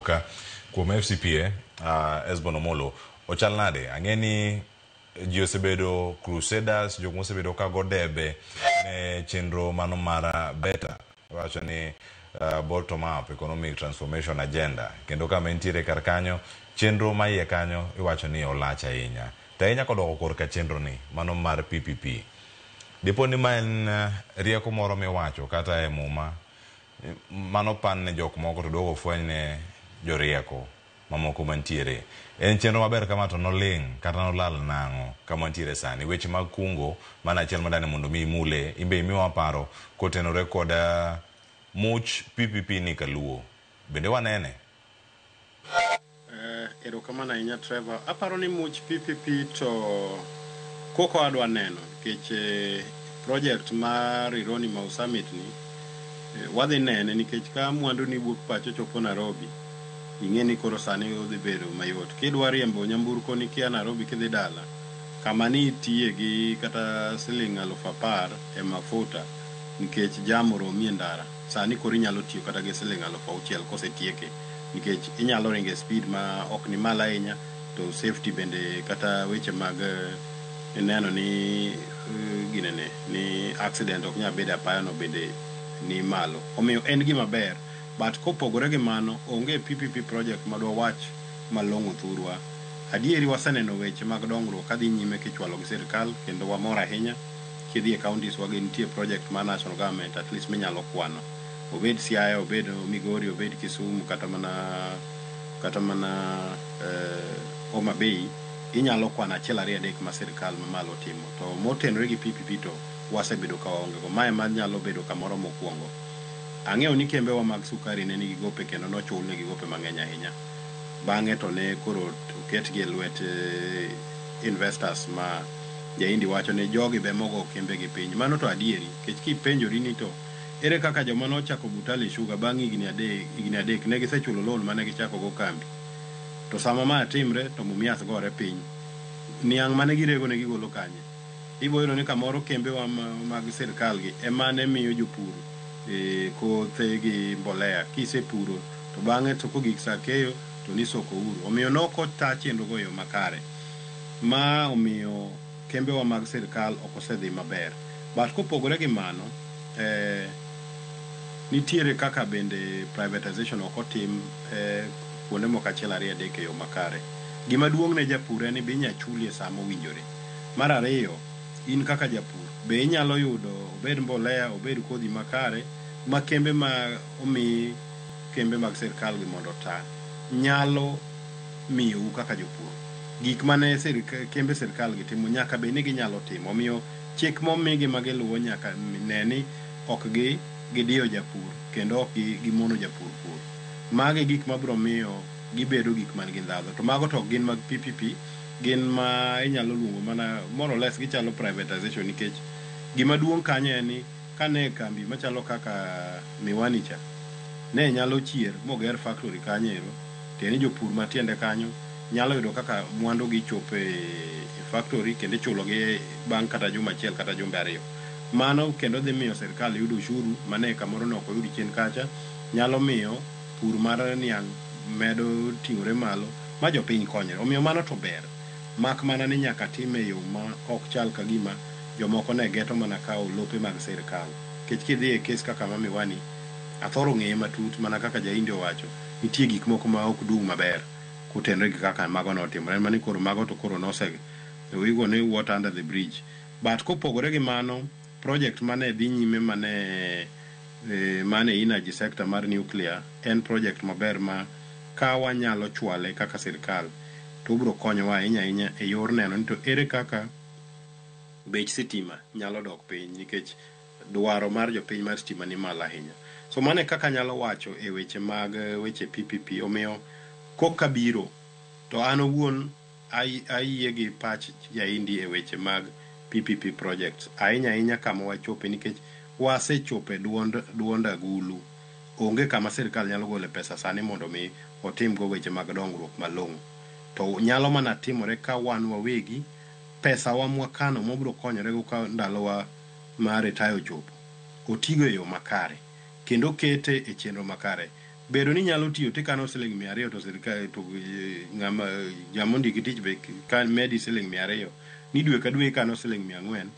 Ka kuom FCPA, uh, Esbon Omolo, ochal nade? Ang'e ni ji osebedo crusaders, jok mosebedo ka go debe ne chenro mano mara beta, wacho ni uh, bottom up economic transformation agenda, kendo kama entiere kar kanyo, chenro ma iye kanyo iwacho ni olach ahinya. To ahinya kodoko korka chenro ni, mano mar PPP. Dipo ni ma en uh, rieko moro miwacho kata e muma mano opan ne jok moko to duogo ofweny ne jorieko mamoko mantiere. En chenro maber kama to noling' kata nolal nang'o kama wantiere sani. Weche mag kungo mano achiel ma dani mondo mi imule imbe imiwa paro kotenore kod much PPP ni kaluo. Bende wanene? Eh, erokamano ahinya Trevor. Aparo ni much PPP to koko adwa neno nikech eh, project mar Rironi Mau Summit ni eh, wadhi nene nikech ka mwandu ni wuok pacho chopo Nairobi ing'e ni koro sani odhi bedo mayot. Kidwa riembo nyamburko ni kia Nairobi kidhi dala kama ni itiye gi kata siling' alufu apar e mafuta nikech jam oromi e ndara. sani koro inyalo tiyo kata gi siling alufu auchiel kosetieke nikech inyalo ringo e speed ma ok ni malo ahinya to safety bende kata weche mag eh, neno ni eh, ginene ni accident ok nyal bedo apaya no bende ni malo omiyo en gima ber but kopogore gi mano onge PPP project madwa wach malong'o thurwa adieri waseneno weche mag dongruok kadhi nyime kichwalo gi sirkal kendo wamor ahinya kidhi e counties wa gi nitie project mar national government at least minyalo kwano. Obed Siaya, obed Migori, obed Kisumu kata mana kata mana eh, Homa Bay inyalo kwano achiel ariyo adek ma sirkal mamalo timo. To motenore gi PPP to wasebedo ka waonge go. Mae ma nyalo bedo kamoro mokwongo. Ang'eyo ni kembewa mag sukari ne nigi gope kendo nochul negi gope mang'eny ahinya. Bang'e to ne koro oketgi e lwet eh, investors ma Jaindi wacho ni jogi be ema ogo kembe gi piny. Mano to adieri. Nikech ka ipenjori ni to ere kaka joma ne ochako Butali Sugar bang' higni adek higni adek ne gisechulo loan mane gichako go kambi. To sama ma timre to Mumias gore piny. Niang' mane girego ne gigolo kanye? Ibo yudo ni kamoro kembewa mag sirkal gi emane miyo jopur kothe gi mbolea. Kisepuro to bang'e to kogik sa keyo to ni soko uru. Omiyo ne ok ota chenro go e yo makare. ma omiyo kembewa mag sirkal ok osedhi maber. But kopogore gi mano, nitiere kaka bende privatization ok otim kuonde moko achiel ariyo adek e yo makare. Gima duong' ne japur en ni be inya chuli e sa mowinjore. Mar ariyo, in kaka japur be inyalo yudo obed mbolea, obed kodhi makare ma kembe ma omi kembe mag sirkalgi mondo ota nyalo. miyou kaka jopur. Gik ma ne kembe sirkalgi timo nyaka bed ni ginyalo timo. Omiyo, chik momigi ma giluwo nyaka ne ni ok gidiyo japur kendo ok gimono japur pur. Magi e gik ma biro miyo gibedo gik man gi ndhadhu. To mago to ok gin mag pi pi pi, gin ma inyalo luongo mana more or less gichalo privatization nikech gima duong' kanyo en ni, kane e kambi machalo kaka Miwani cha, ne nyalo chier moger factory kanyo ero, tiende ni jopur matiende kanyo nyalo yudo kaka mwandu gi chopo e factory kendo ichulo gi bang' kata juma achiel kata jumbe ariyo. Mano kendo dhi miyo sirkal yudo ushuru mane kamoro ne ok oyud chien kacha, nyalo miyo pur mar niang' medo ting'ore malo ma jopiny konyre. Omiyo mano to ber, mak mana ni nyaka time e yo ma ok chal kagima jomoko ne geto mana kawo lope mag sirkal. Nikech kidhi e kes kaka ma Miwani, athoro ng'eye matut mana kaka Jahindi owacho, nitie gik moko ma ok dung' maber kotenre gi kaka mago ne otimore. En mana ni koro mago to koro nose we go ni water under the bridge. But kopogore gi mano, project ma ne dhi nyime ma ne man e energy sector mar nuclear en project maber ma ka wanyalo chwale kaka sirkal to obiro konyowa ahinya ahinya e yor neno ni to ere kaka bech sitima nyalo dok piny nikech dwaro mar jopiny mar sitima ni malo ahinya. So mano e kaka anyalo wacho e weche mag weche PPP. Omiyo kok ka biro to an owuon ayie gi pach Jaindi e weche mag PPP projects. Ahinya ahinya kama wachope nikech wasechope duond duond agulu. Onge kama sirkal nyalo gole pesa sani mondo mi otim go weche mag dongruok malong'o. To nyalo mana timore ka wan wawegi pesa wa mwakano mwabiro konyorego ka ndalowa mar retire ochopo otigo e yo makare kendo okete e chenro makare. Bedo ni inyalo tiyo tikano siling mia ariyo to sirkal to eh, ng'ama jama ondiki tich be ka medi siling mia ariyo ni dwe ka dwe ikano siling mia ang'wen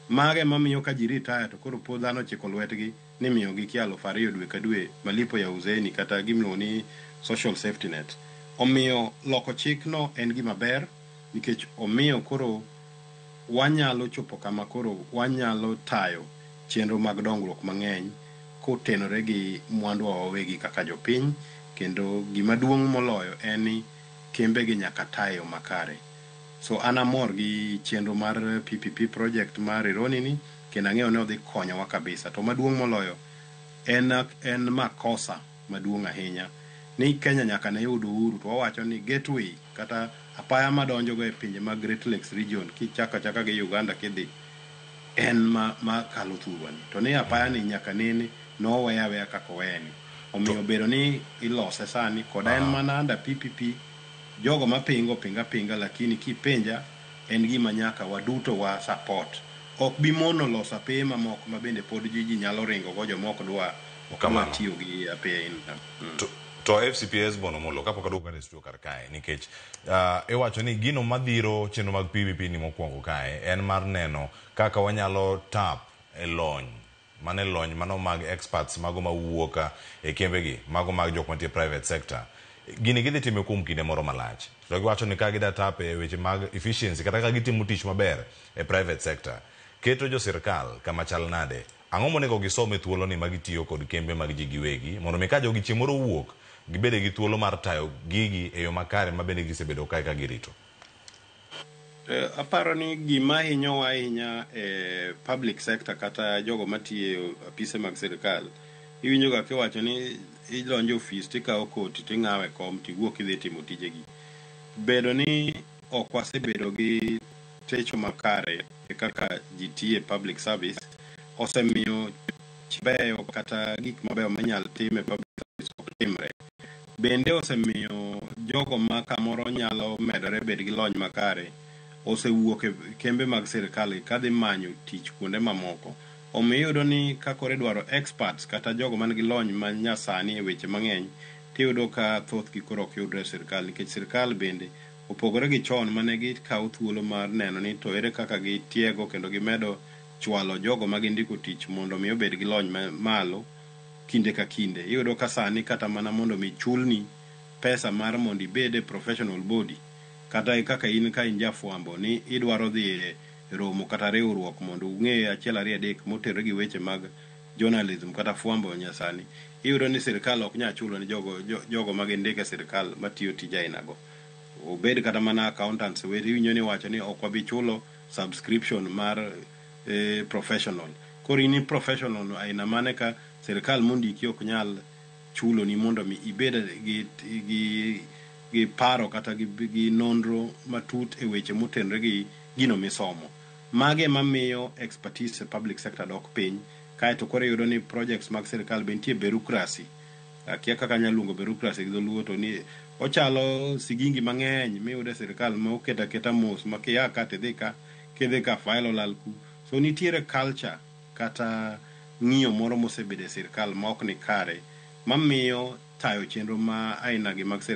mago ema miyo ka ji retire to koro po dhano chiko lwetgi ni miyogi kia alufu ariyo dwe ka dwe malipo ya uzeni kata gimiluongo ni social safety net. Omiyo loko chikno en gima ber nikech omiyo koro wanyalo chopo kama koro wanyalo tayo chenro mag dongruok mang'eny kotenore gi mwanduwa wawegi kaka jopiny kendo gima duong' moloyo en ni kembegi nyaka ta e yo makare. So an amor gi chenro mar PPP project mar Rironi ni kendo ang'eyo ni odhi konyowa kabisa. To maduong' moloyo en, en makosa maduong' ahinya ni Kenya nyaka ne yud uhuru to wawacho ni gateway kata apaya madonjogo e pinje mag Great Lakes region kichako achaka gi Uganda kidhi en ma, ma kalo thurwani to ni apayani nyaka nene noweya aweya kaka oweyani omiyo bedo ni ilose sani koda en mana under PPP jogo mapingo pinga pinga lakini kipenja en gima nyaka waduto wa support ok bi mono loso apeye mamoko ma bende pod ji ji nyalo ringogo jomok dwa Kamano. tiyo gi apea in na mm. to, to fcp esbon omolo kapok aduogo kane studio kar kae nikech uh, iwacho ni gino madhiro chenro mag pvp ni mokwongo kae en mar neno kaka wanyalo tap e lony mane lony mano mag experts mago mawuoka e kembegi mago mag jok mantie private sector gini gidhi time kuom kinde moro malach to giwacho ni ka gida tap e weche mag efficiency kata ka gitimo tich maber e private sector keto jo sirkal kama chal nade Ang'o monego gisom e thuoloni ma gitiyo kod kembe mag ji giwegi mondo mi ka jogi chieng' moro owuok, gibede gi thuolo mar tayo gigi e yo makare ma bende gisebedo kae ka girito? Aparo ni gima hinyowa ahinya e public sector kata jogo matiyo e apise mag sirkal, iwinjoga kiwacho ni idonjo e ofis tikawo koti ting'awo e kom tiwuok idhi timo tijegi. Bedo ni ok wasebedo gi techo makare e kaka ji tiyo e public service osemiyo beyo kata gik mabeyo minyal tim e public service ok timre. Bende osemiyo jogo ma kamoro nyalo medore bed gi lony makare osewuok e kembe mag sirkal ka dhi manyo tich kuonde mamoko. Omiyo iyudo ni ka koro idwaro experts kata jogo man gi lony ma nyasani e weche mang'eny tiyudo ka thothgi koro ok yudre e sirkal nikech sirkal bende opogore gi chon ma ne gikawo thuolo mar neno ni to ere kaka gitiego kendo gimedo chwalo jogo ma gindiko tich mondo omi obed gi lony ma malo kinde ka kinde. Iyudo ka sani kata mana mondo omi chulni pesa mar mondo ibed e professional body kata kaka in ka in jafwambo ni idwaro dhi e romo kata riwruok mondo ung'e achiel ariyo adek motenore gi weche mag journalism kata fwambo nyasani iyudo ni sirkal ok nya chulo ni jogo jogo ma gindik e sirkal matiyo tije aina go. Obed kata mana accountants weri iwinjo ni iwacho ni ok wabi chulo subscription mar eh, professional. Koro in i professional no aina mane ka sirkal mondiki ok nyal chulo ni mondo mi ibed gi gi gi paro kata gi, gi nonro matut e weche motenre gi gino misomo. Mago ema miyo expertise e public sector dok piny, kae to koro iyudo ni projects mag sirkal be nitie berucracy, akia kaka anyalo luongo berucracy gi dholuo to ni ochalo sigingi mang'eny miyudo e sirkal ma oket aketa mos ma kia ka to idhi ka, kidhi ka file olal ku. So nitiere culture kata ng'iyo moro mosebedo e sirkal ma ok ni kare mamiyo tayo chenro ma aina gi mag sirkal.